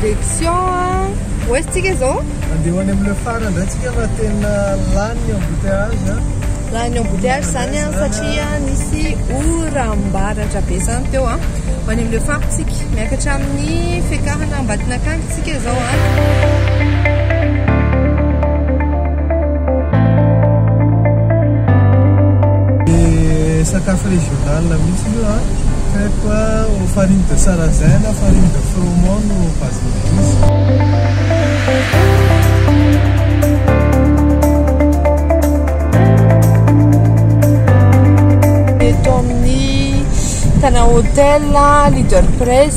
Direction où est-ce que zao? Andeha ho any amin'ny phare indray tsika fa tena lany ny embouteillage. Lany embouteillage zany an satria nisy oram-baratra be zany teo an. Ho any amin'ny phare tsika miakatra amin'ny fiakarana Ambatinakandy. Tsika zao an. Sakafo régional mihitsy io an. Crêpe au farine de sarrasin na farine de froment no base Tana hotel, leader press,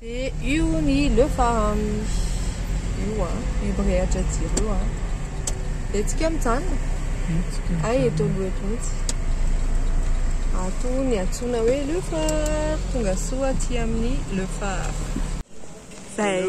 Dia io ny le farany io an, io mirehatra jiro io an. Dia tsika mijanona. Ay eto aloha eto mihitsy. Ato ny antsoina hoe le phare. Tonga soa aty amin'ny le phare. Zay.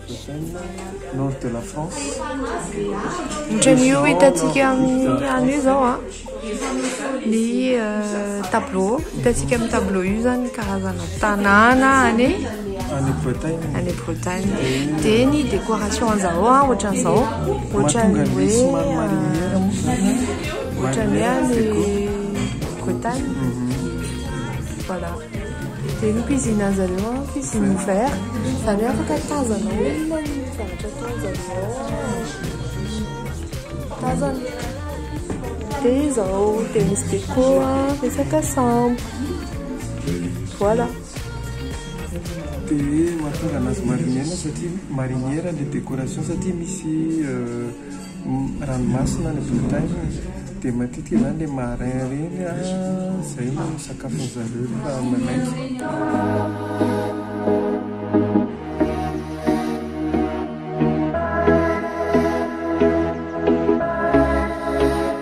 Ohatran'ny io hitantsika amin'ny any io izao an, ny tableau hitantsika amin'ny tableau io izany karazana tanàna any any Bretagne, any Bretagne dia ny décoration an'izao an ohatran'izao ohatran'ny hoe ohatran'ny hoe any Bretagne, voilà. Dia ny cuisine an'i zareo an, cuisine ouvert, izany hoe afaka tazana ao inona ny zavatra ataon'i zareo ao an, tazana. Dia izao, dia misy déco an, resaka sambo. Voilà. Dia mahatonga anazy marinière satria, marinière ilay décoration satria misy. ranomasina any Bretagne dia matetika izany le marin reny a zay no sakafony zareo rehefa manaiky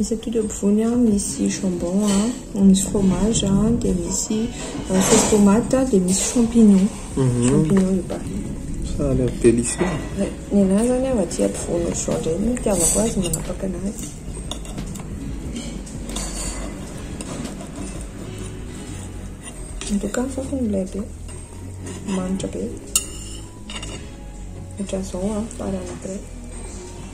Isaky ireo mpivoany an, misy jambon an, misy fromage an, dia misy sauce tomate, dia misy champignon. Mhm. Champignon le baril. Ça a l'air délicieux. Ouais. Ny anahy zany an, aty ampovoany otr'izao indray no itiavako azy, manapaka anazy. Antoka ny fofony milay be, manitra be. Otr'izao an, farany après.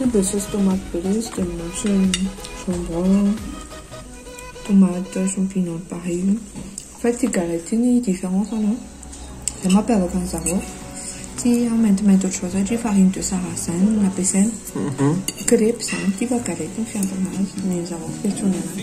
Io dia saosy tomate be ilay izy dia mihoatra ny jambon, tomate, champignons pareil io. Fa ity galette io ny différence-ny an, izay mampiavaka an'i zareo. Ity an maintimainty ohatr'izao satria farine de sarrasin no nampiasaina. Crepes izany, ity fa galette no fiantsoana azy, ny an'i zareo fiantsoana azy.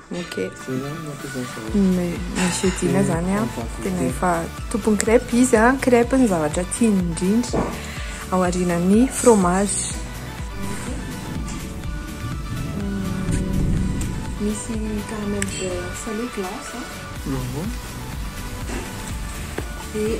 Ok. Mais Monsieur Dina zany an, tena efa tompony crêpe izy an, crêpe no zavatra tiany indrindra ao arinan'ny fromage. Misy caramel beurre salé glace an. Dia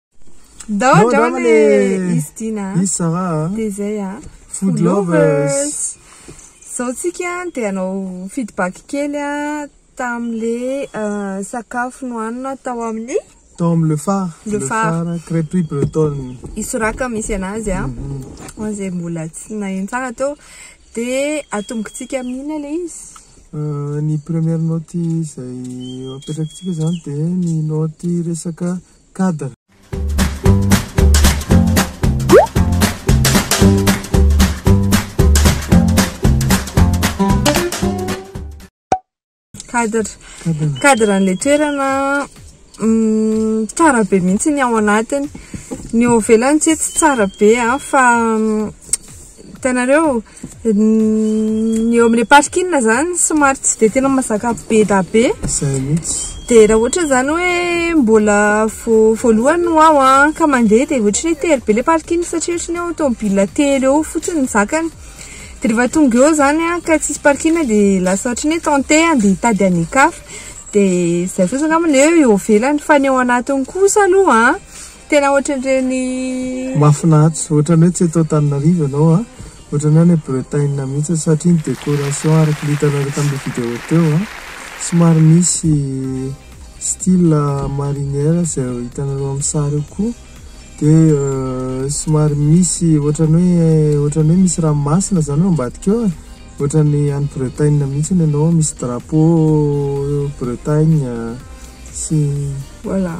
Dao dao le izy Dina. Izy Sarah. Dia izay ah. Food lovers. Zao tsika dia anao feedback kely ah tamle euh, sakafo nohanina tao amin'ny tao amin'ny le phare. Le phare. Crêperie bretonne. Isoraka misy anazy ah. Ho an'izay mbola tsy naheno tsara teo dia atombokintsika amin'ina le izy. Euh, ny première note izay apetrakintsika izany dia ny note resaka Cadre. Cadre. Cadre an'ilay toerana mm, tsara be mihitsy ny ao anatiny. Ny ao ivelany tsy hoe tsy tsara be an, fa mm, hitanareo Ny eo amin'ny parking zany somary tsy dia tena mazaka be da be. Izay mihitsy. Dia raha ohatra zany hoe mbola vao voalohany no ao an, ka mandeha dia ohatra hoe tery be ilay parking satria ohatra ny hoe tomobilina telo eo fotsiny no zakany. Dia rehefa tonga eo zany an ka tsisy parking dia lasa ohatra ny hoe tenter handeha hitady any an-kafa. Dia izay fotsiny angamba ilay hoe eo ivelany fa ny ao anatiny kosa aloha an. Tena ohatran'ireny Mahafinaritra, ohatran'ny hoe tsy eto Antananarivo ianao an! Ohatran'ny hoe any Bretagne mihitsy satria ny décoration araka ny hitanareo tamin'ilay vidéo teo an! Somary misy style marinière izay hitanareo amin'ny sary eo koa dia somary misy ohatran'ny hoe ohatran'ny hoe misy ranomasina izany eo ambadika eo e! Ohatran'ny any Bretagne mihitsy ianao misy drapeau Bretagne sy. Voilà.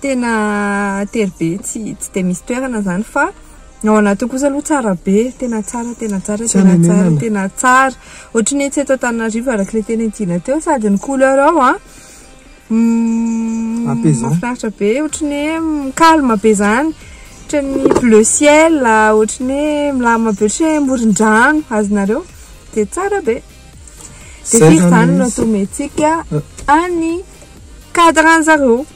Tena tery be tsy tsy dia misy toerana zany fa ny ao anatiny kosa aloha tsara be, tena tsara tena tsara Tsy tena tsara hanenenana. tena tsara. Ohatry ny hoe tsy eto Antananarivo araka ilay teny Antsina teo sady ny couleur ao a m- Apaisant. mahafinaritra be ohatry ny hoe calme be zany, ohatry ny bleu ciel, ohatry ny hoe milamina be ohatry ny hoe moron-drano, azonareo? Dia tsara be. Dia Zay firy zany izany no izy. atometsika any cadre-n'zareo?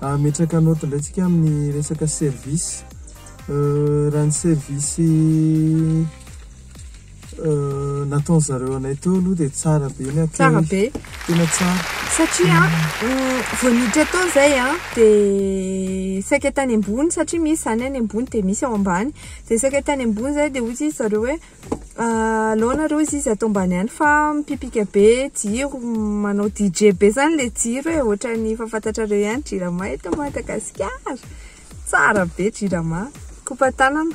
Ametraka note indray tsika amin'ny resaka service. Raha ny service nataon'ny zareo anay teo aloha dia tsara be ny accueil. Tsara be. Tena tsara. Satria vao niditra tao izay dia saika tany ambony satria misy izany any ambony dia misy ao ambany. Dia saika tany ambony izay dia hoy izy zareo hoe. Aleo nareo izy izy atao mbany any fa mipipika be jiro manao DJ be zany le jiro e ohatrany efa fantatrareo ihany jirama eto Madagasikara tsara be jirama kopa tanana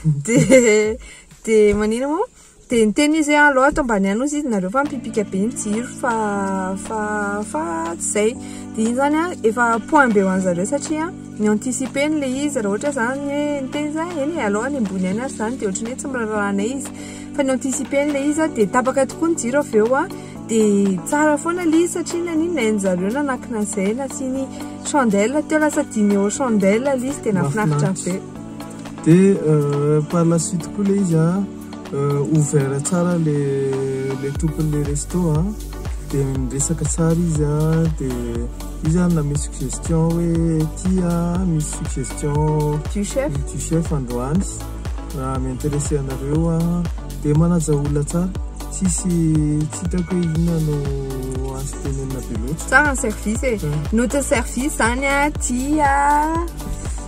de de manina moa de niteny izy hoe aleo atao mbany any izy izy nareo fa mipipika be ny jiro fa fa fa tsy zay de iny zany an efa point be ho anzareo satria Mi-anticiper ny le izy raha ohatra zany hoe niteny za eny e aleo any ambony any aza zany de ohatry ny hoe tsy miraharaha anay izy fa ni-anticiper ny le izy a de tapaka tokoa ny jiro avy eo a de tsara foana le izy satria naninona e ny zareo nanankina an'izay nasiany chandelle teo lasa dimy eo chandelle le izy de nahafinaritra be de par la suite koa le izy a Ouvert tsara le le tompon'le resto a, de niresaka tsara izy a, de izy ary nanome suggestion hoe ity a misy suggestion du chef du chef androany, raha mi-interesser anareo a, de manaja olona tsara, tsisy tsy hitako hoe inona no azo tenenina be loatra. Tsara ny service e, notin'ny service zany a, tia.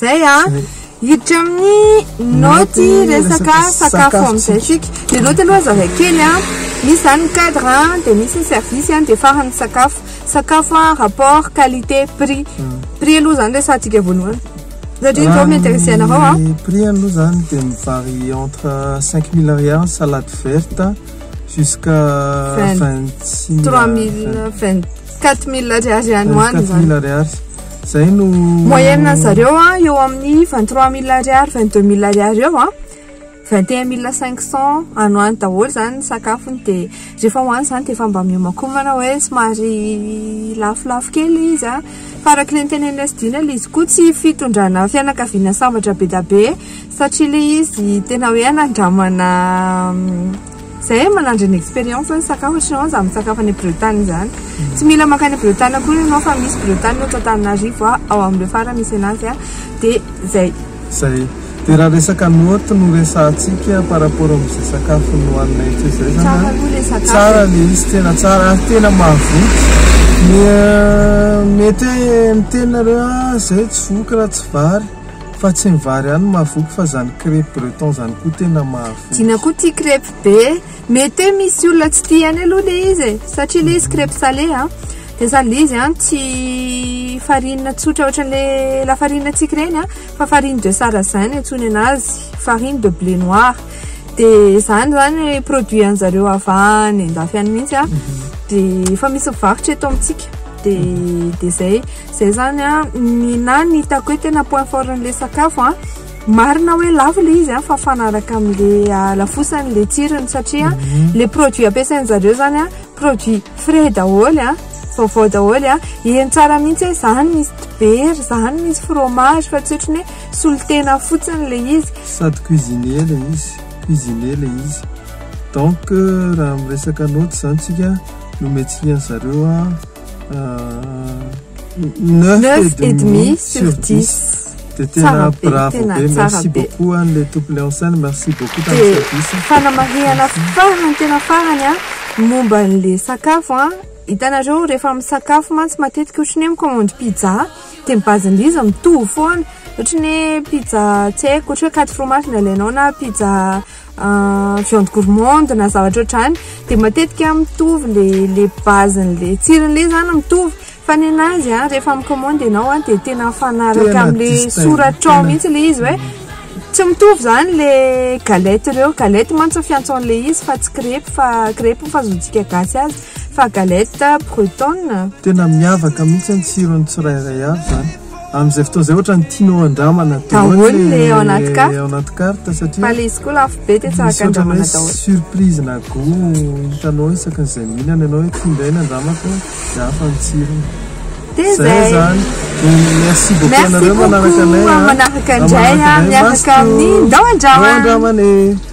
Zay a! Hiditra amin'ny naoty resaka sakafo amin'izay isika. Ny naoty aloha zaraiko kely a! Misy izany ny cadre a, dia misy ny service a, dia farany ny sakafo. Sakafo a, rapport qualité prix. Prix aloha izany resahantsika voalohany satria izao mi-interesser anareo aho. Ny prix aloha izany dia mi-varie entre cinq mille ariary ny salade verte jusqu'à vingt six mille. Trois mille, vingt. 4000 ariary any ho any zany. 4000 ariary. Zay no moyenne an zareo a eo amin'ny 23000 ariary 22000 ariary eo a 21500 any ho any daholo zany ny sakafony de rehefa ho any zany de efa mba miomakomana hoe somary lafolafo kely izy a fa araka le niteneninay sy Dina le izy koa tsy fitondrana fianakaviana sambatra be dia be Satria ilay izy tena hoe anandramana izay manandry ny expérience ny sakafo ny chinoise amin'ny sakafo any Bretagne izany. Hmm. Tsy mila makany Bretagne akory ianao fa misy Bretagne ohatra Antananarivo ah, ao amin'ireo fara misy anazy ah, dia izay. Izay. Dia raha resaka note no resahantsika par rapport amin'izay sakafo nohanina etsy izay zany. Tsara aloha ilay sakafo. Tsara ilay izy tena tsara ary tena mahavoky. Mety hoe miteny nareo ah, zay tsy voky raha tsy vary. Fa tsy ny vary ihany no mahavoky fa zany crepes bretons zany koa tena mahavoky. Dina koa tia crepes be. Mety hoe misy olona tsy tia any aloha le izy e. Satria le izy crepes salé an. Dia sady le izy an tsy farine tsotra ohatran'le lafarine antsika ireny an. Fa farine de sarrasin no antsoiny anazy. Farine de blé noir. Dia izany izany produit an'i zareo avy any an-dafy any mihitsy an. Dia efa misy mivarotra eto amintsika. Dia dia izay. Zay zany a, ny na ny hitako hoe tena point fort an'le sakafo a, marina hoe lafo le izy a fa mifanaraka amle halafosany le tsirony satria mhm. le produit ampiasainy zareo zany a produit frais daholo a vaovao daholo a eny tsara mihitsy hoe zany misy dibera zany misy fromage fa tsy otriny hoe solotena fotsiny le izy sady cuisine le izy cuisine le izy donc euh, raha miresaka note zany tsika nomentsika an'zareo a Neuf et demi sur dix. Dia tena bravo be, merci beaucoup an'ilay tompony en scène, merci beaucoup tamin'ny service. Dia fanamarihana farany tena farany an, momba an'ilay sakafo an, hitanareo rehefa misakafo mantsy matetika ohatra ny hoe mi-commande pizza dia ny base-n'izy izy mitovy foana, ohatra ny hoe pizza tsy haiko, ohatra hoe quatre fromages no alainao na pizza. viande gourmande na zavatra ohatrany dia matetika mitovy le le base le tsirony le zany mitovy fa ny anazy a rehefa mikomandy ianao a dia tena mifanaraka amle soratrao mihitsy le izy hoe tsy mitovy zany le galette reo galette mantsy fiantsoan'le izy fa tsy crepes fa crepes fahazoantsika gasy azy fa galette bretonne tena miavaka mihitsy ny tsirony tsirairay avy zany Amin'izay fotoana izay ohatrany tianao handramana daholo le ao anaty carte. Ao anaty carte satria fa le izy koa lafo be de tsaka handramana daholo. Surprise na go hitanao isaky ny izay mihinana ianao hoe ty indray nandramako dia hafa ny tsirony. Dia zay zany. Merci beaucoup anareo manaraka anay. Merci beaucoup manaraka indray miaraka amin'ny ndao handramana. Ndao handramana.